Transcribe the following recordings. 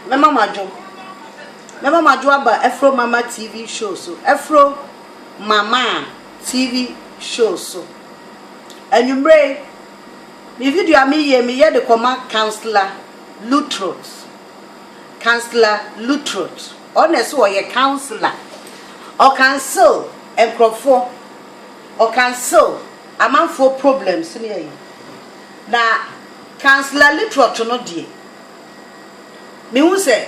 Mɛma mo adwo. Mɛma mo adwo aba Afro Mama TV show so. Afro Mama TV show so. Anwummere, me video a meyɛ, meyɛ de kɔma Councillor Lutrot. Councillor Lutrot. Ɔno na ɛsɛ ɔyɛ councillor. Ɔkansel nkurɔfoɔ. Ɔkansil amanfoɔ problems ne ayi. Na Councillor Lituot no deɛ, mehu sɛ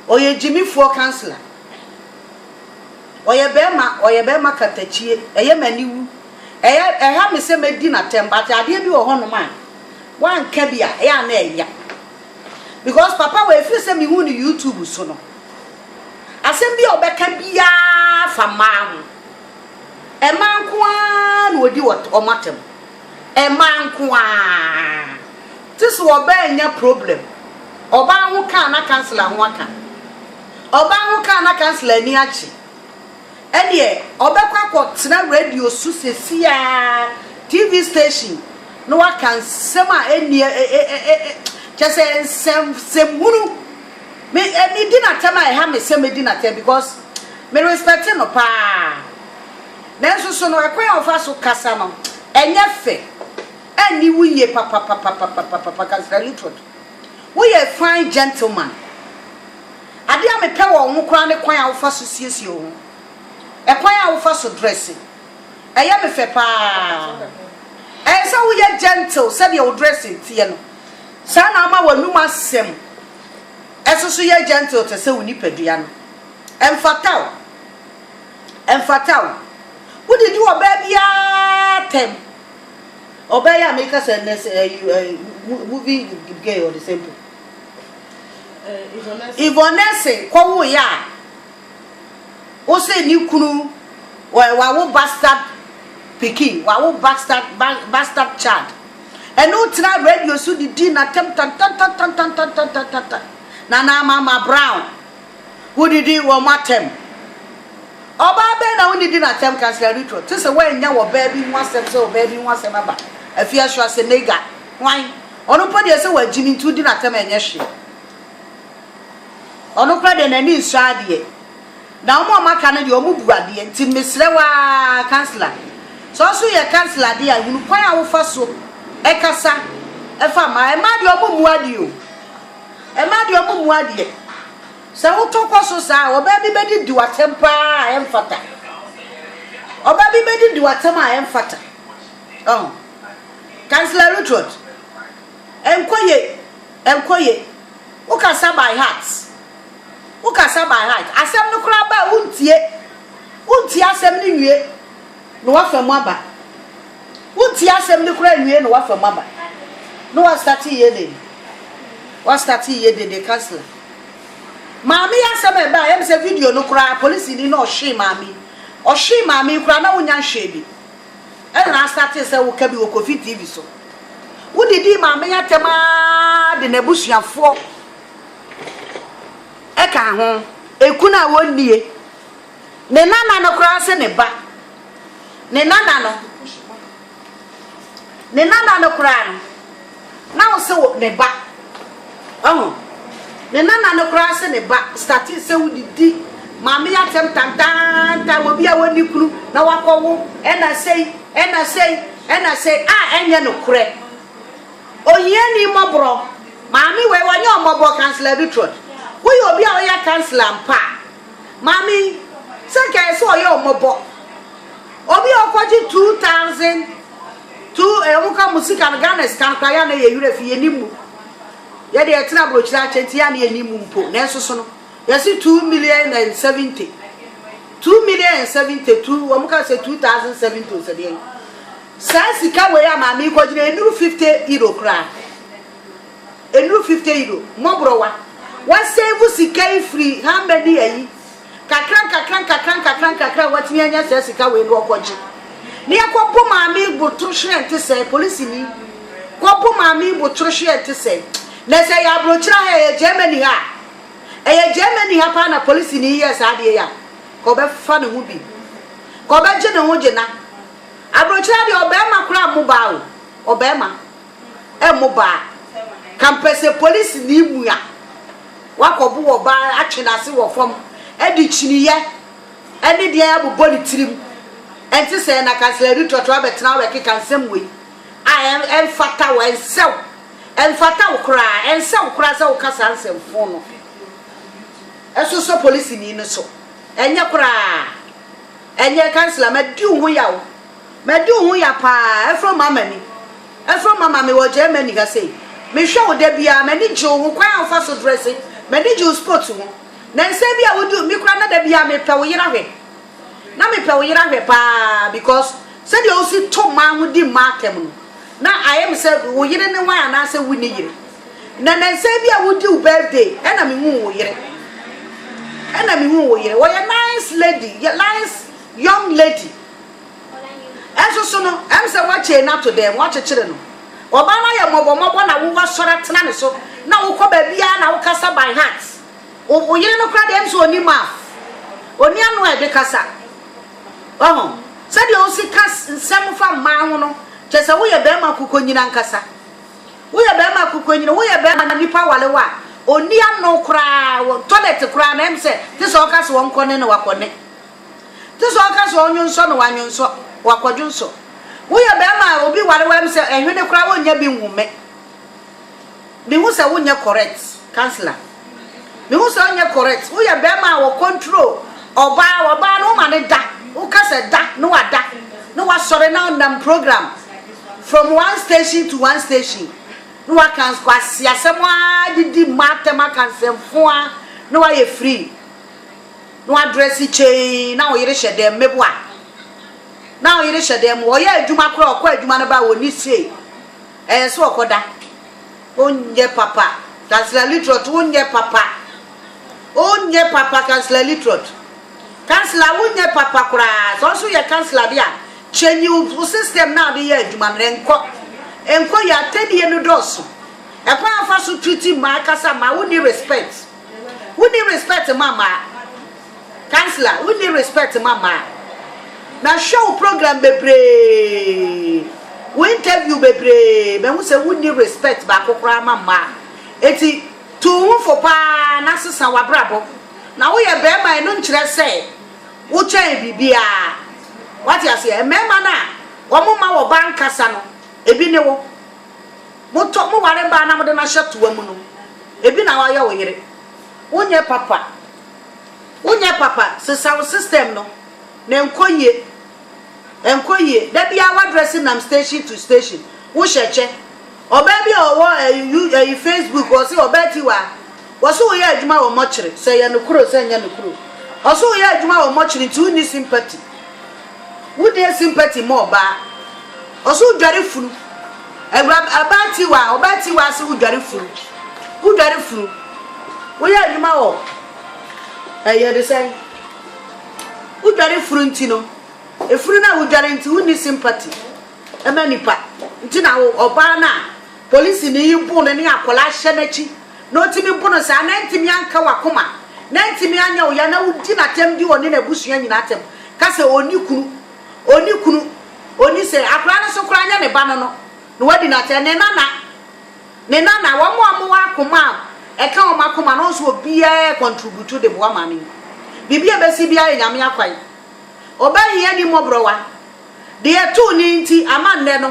ɔyɛ gyimifoɔ councillor. Ɔyɛ barima, ɔyɛ barima katakyie. Ɛyɛ me aniwu. Ɛyɛ, ɛha me sɛ mɛdi no atɛm but adeɛ bi wɔ hɔnom a, wanka bi a, ɛyɛ a na ɛya. Because papa wei, ɛfiri sɛ mehu no YouTube so no, asɛm bi a ɔbɛka biara fa mmaa ho. Mmaa nko ara na wɔdi wɔn atɛm. Mmaa nko ara. Te sɛ ɔbaa nya problem, ɔbaa ho ka a na councilor ho aka. Ɔbaa ho ka a na councilor ani agye. Ɛnneɛ ɔbɛkɔ akɔtena radio so seesei ara, TV station, na waka nsɛm a ɛnni ɛ ɛ ɛ ɛ kyerɛ sɛ nsɛm nsɛmhunu Me me di n'atɛm a ɛha me sɛ me di n'atɛm because me respect no paa nanso so no ɛkwan a ɔfa so kasa no ɛnyɛ fɛ ɛnni wo yie papapapapapapa Councillor Luttrod wo yɛ a fine gentleman adeɛ a me pɛ wɔ wo ho koraa ne kwan a wofa so siesie wo ho ɛkwan a wofa so dresse ɛyɛ me fɛ paa ɛyɛ sɛ woyɛ gentle sɛdeɛ wo dressing teɛ no. Saa na ama w'anom asɛm nso so yɛ gentle te sɛ wo nipadua no. Ɛmfata wo. Ɛmfata wo. Wodidi ɔbaa biara atɛm. Ɔbaa yi a meka sɛ nnɛ sɛ ɛyi eh, eh, mo- movie with gay ɔde sɛ mpo. Yvonne Essay kɔwoeɛ a, Wo se ne kunu ɛ wawo bastard pikin wawo bastard ba bastard child ɛne wo tena radio so de di natam tantantantantantantantantan Nana ama ma Brown wo didi wɔn atɛm ɔbaa bɛn na wo ne di natɛm Councillor Ritro te se woannya wɔ baa bi ho asɛm sɛ ɔbaa bi ho asɛm aba afie so asɛ Nega hwan ɔno mpo deɛ sɛ wagyimi nti wo di natɛm ɛnyɛ hwee. Ɔno koraa deɛ n'ani nsɔ adeɛ. Na wɔn a wɔaka no deɛ wɔbu adeɛ. Nti mesrɛ wo ara councillor, sɛ wo nso woyɛ councillor deɛ a, hunu kwan a wofa so kasa fa mmaa. Mmaa deɛ wɔmmu adeɛ o. Mmaa deɛ wɔmmu adeɛ. Sɛ wotɔ kɔ so saa a, ɔbaa bi bɛdidi w'atɛm pa ara a ɛmfata. Ɔbaa bi bɛdidi w'atɛm a ɛmfata. Ɔho. Councillor Rutrot. Ɛnkɔ ye, ɛnkɔ ye. Wo kasa by heart. Wo kasa by heart. Asɛm no koraa ba a wo ntie. Wo ntie asɛm no nwie na wafa mu aba. Wo ntie asɛm no koraa nwie na wafa mu aba. Na wa start ye den. Wa start ye den de councilor. Maame yi asɛm a ɛba a ɛyɛ me sɛ video no koraa polisini na ɔhwee maame yi. Ɔhwee maame yi koraa na wonnya nhwɛɛ bi. Ɛna astartee sɛ woka bi wɔ Kofi TV so. Wode dii Maame Yatem ara de n'abusuafoɔ ɛkaa ho. Ekunu a wɔnnie. Ne nana no koraa se ne ba. Ne nana no. Ne nana no koraa no. Na wo se wo ne ba oh Me nana no koraa se ne ba startee se wo de di maame yi atɛm tantaantan wɔ bi a wɔnni kunu na wakɔ wo ɛna sei ɛna sei ɛna sei a ɛnyɛ nokorɛ Ohiani mmɔborɔ Maame wei wɔnyɛ ɔmmɔbɔ Councillor Bitrot woyɛ obi a woyɛ councillor mpa a maame yi sɛ kɛɛ sɛ ɔyɛ ɔmmɔbɔ obi a ɔkɔgye 2000 To ɔmo ka mo sika no Ghana sika no koraa yɛ a na yɛ werɛ fi yɛ nim mu yɛ deɛ yɛ tena abrokyire akyɛ nti yɛ a na yɛ nim mu mpo nanso so no yɛ se two million and seventy two million and seventy two ɔmo ka sɛ two thousand seventy o sɛ deɛ saa sika wei a maame yi kɔ gyina enuru fifty euro koraa enuru fifty euro mɔborɔwa wa save sika yi firi how many ayi. Nkakrankakra nkakrankakra nkakra a watumi anya saa sika wei no ɔkɔgye na yɛkɔbo maame yi botoro hwerɛ nte sɛn polisini kɔbo maame yi botoro hwerɛ nte sɛn na sɛ yɛ aburokyerɛ ha ɛyɛ Germany ha ɛyɛ Germany ha paa na polisini yi yɛ saa adeɛ yɛ a ka ɔbɛfa ne ho bi ka ɔbɛgye ne ho gye na aburokyerɛ deɛ ɔbɛrima koraa mmo baa o ɔbɛrima mo ba a, ka mpɛ sɛ polisini mua wakɔbo ɔbaa no atwe n'ase wɔ fam de kyiniiɛ ne deɛn abobɔ ne tirim. Ɛnte sɛɛ na ka Sir Luttrot abɛtena abɛkeka nsɛm wei a ɛmfata wo, ɛnsɛ wo, ɛmfata wo koraa, ɛnsɛ wo koraa sɛ woka saa nsɛmfoo no sosɔ polisini no so. Ɛnyɛ koraa, ɛnyɛ. Councillor, madi wo ho yaw. Madi wo ho ya paa, ɛforo ma m'ani. Ɛforo ma ma mewɔ Germany ha sei. Mehwɛ wo da biara, m'ani gye wo ho, kwan a wofa so dresse, m'ani gye wo sports ho. Nansa bi a wodi me koraa na da biara mepɛ wo yera hwɛ. Na mepɛ wo yera hwɛ paa because sɛdeɛ wosi to mmaa ho di mmaa atɛm no, na ayɛ me sɛ wo yere ne wan anaasɛ wonni yere. Na nansa bi a wodi wo birthday ɛna mehuu wo yere. Ɛna mehuu wo yere. Wɔyɛ nice lady, nice young lady. Nso so no, ɛm sɛ woakyei no ato dɛn? Woakyekyere no? Ɔbaa no ayɛ mmɔbɔmmɔbɔ na wo woasɔre atena ne so na wokɔ baabiara na wokasa by heart. Wo wo yere no koraa deɛ ɛm sɛ ɔnni mouth, ɔnni ano a ɛde kasa. Wahu? Sɛdeɛ wosi ka s nsɛm fa mmaa ho no, kyerɛ sɛ woyɛ barima kukonyin ankasa. Woyɛ barima kukonyin, woyɛ barima a nnipa ware wo a ɔnni ano koraa, wɔ toilet koraa no ɛm sɛ te sɛ ɔka sɛ wɔnkɔ ne na wakɔ ne. Te sɛ ɔka sɛ ɔnwonsɔ no w'anwonsɔ, w'akwadwonsɔ. Wo yɛ bɛɛma a obi ware w'am sɛ ɛhwene koraa wonnya bi nhu me. Me hu sɛ wo nyɛ correct councilor. Me hu sɛ wo nyɛ correct. Wo yɛ bɛɛma a wɔ control ɔbaa, ɔbaa no wo ma ne da. Wo ka sɛ da na wa da. Na wa sɔre na ɔnam program from one station to one station. Na wa ka nkwasi asɛm aa didi mmaa tɛm aka nsɛm foaa na wa yɛ free. Na wadrɛse kyei, na ɔyere hyɛ dɛm, meboa? Na ɔyere hyɛ dɛm, ɔyɛ adwuma koraa, ɔkɔ adwuma no ba a, ɔnni sei, ɛyɛ sɛ ɔkɔda. Wonyɛ papa, Councillor Littrot, wonyɛ papa. Wonyɛ papa, Councillor Littrot. Councillor, wonyɛ papa koraa. Sɛ wo nso woyɛ councillor de a, change wo system no a wode yɛ adwuma no, ɛnkɔ. Ɛnkɔ yie, atɛnnie no dɔɔso. Ɛkwan a wɔfa so treat mmaa, kasa mmaa, wonni respect. Wonni respect ma mmaa. Councillor wonni respect ma mmaa. Na hwɛ wo program bebree, wo interview bebree, mahu sɛ wonni respect baako koraa ma mmaa. Enti tu wo ho fo paa na sesa w'abrabɔ. Na woyɛ barima ɛno nkyerɛ sɛ wokyɛn biribiara. Woate aseɛ? Mmarima no a wɔma wɔba nkasa no, ebi ne wo. Motɔ mo ware baa na mode no ahyɛ toa mu no, ebi na wayɛ wo yere. Wonyɛ papa. Wonyɛ papa. Sesa wo system no na ɛnkɔ yie. Ɛnkɔ yie. Da biara w'address nam station to station. Wohyɛ kyɛ. Ɔbaa bi a ɔwɔ ɛyi you ɛyi Facebook ɔse ɔbaa ti wɔ ha. Wɔse woyɛ adwuma wɔ mɔkyere. Sɛ ɛyɛ nokorɛ o sɛ ɛnyɛ nokorɛ o. Ɔse woyɛ adwuma wɔ mɔkyere nti wonni sympathy. Wo deɛ sympathy ma ɔbaa. Ɔse wo dware funu. Awura abaa tiwa ɔbaa tiwa ase wo dware funu. Wo dware funu. Wo yɛ adwuma wɔ ɛyɛ de sɛn. Wo dware funu nti no efunu na wo dware nti wo ni sympathy ɛma nipa nti na wo ɔbaa na. Polisini yi boo no ne akwadaa hyɛ n'akyi na otumi bo no saa na antumi anka wakoma na antumi anyɛ wo ya na wodi no atɛm di ɔne n'abusua nyinaa atɛm ka sɛ ɔnni kunu ɔnni kunu ɔnni sɛ akwadaa no nso koraa nyɛ ne ba no no na wadi no atɛm ne nana ne nana wɔn a wɔwɔ akoma a ɛka wɔn akoma no nso obiara kɔntrubutu de boa maame yi biribi a ɛbɛsi biara yɛ nyame akwan ɔbɛhia ni mmɔborɔwa. Deɛ ɛtoo no nti ama nnɛ no,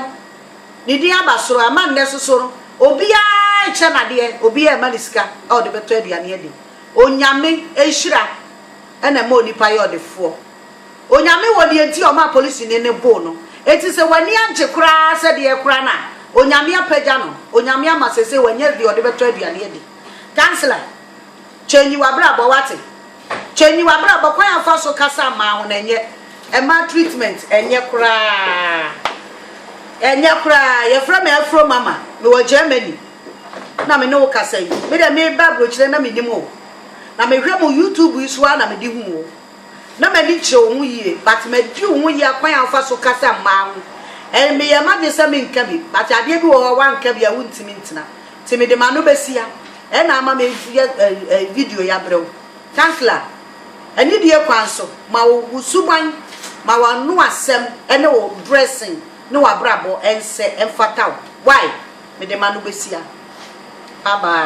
ne din aba soro, ama nnɛ nso so no, obiara rekyɛ no adeɛ, obiara rema no sika a ɔde bɛtɔ aduane adi. Onyame nhyira na ɛma onipa yɛ ɔdefoɔ. Onyame wɔ deɛ nti a ɔmaa polisini no boo no. Enti sɛ w'ani agye koraa sɛ deɛ ɛkora no a, Onyame apagya no, Onyame ama seesei wanya deɛ ɔde bɛtɔ aduane adi. Councillor. Change w'abrabɔ, wate? Change w'abrabɔ, kwan a ɔfa so kasa mma ho no ɛnyɛ, ɛmma treatment ɛnyɛ koraa, ɛnyɛ koraa, yɛfrɛ me Afro Mama, mewɔ Germany na me ne wo kasa yi, me deɛ meba abrokyire na mennim wo, na mehwɛ mo YouTube yi so ara na mede hu wo, na m'ani kyerɛ wo ho yie, but madi wo ho yea, kwan a wofa so kasa mma ho, meyɛ m'adwene sɛ menka bi, but adeɛ bi wɔ hɔ a woanka bi a wontumi ntena. Nti mede m'ano bɛsia ɛna ama me yɛ eh, video yi abrɛ wo. Kansla, anidie kwan so, ma wo wo suban, ma w'ano asɛm ne wo dressing ne w'abrabɔ ɛnsɛ ɛmfata wo. Why? Mede m'ano bɛsia. Bye bye.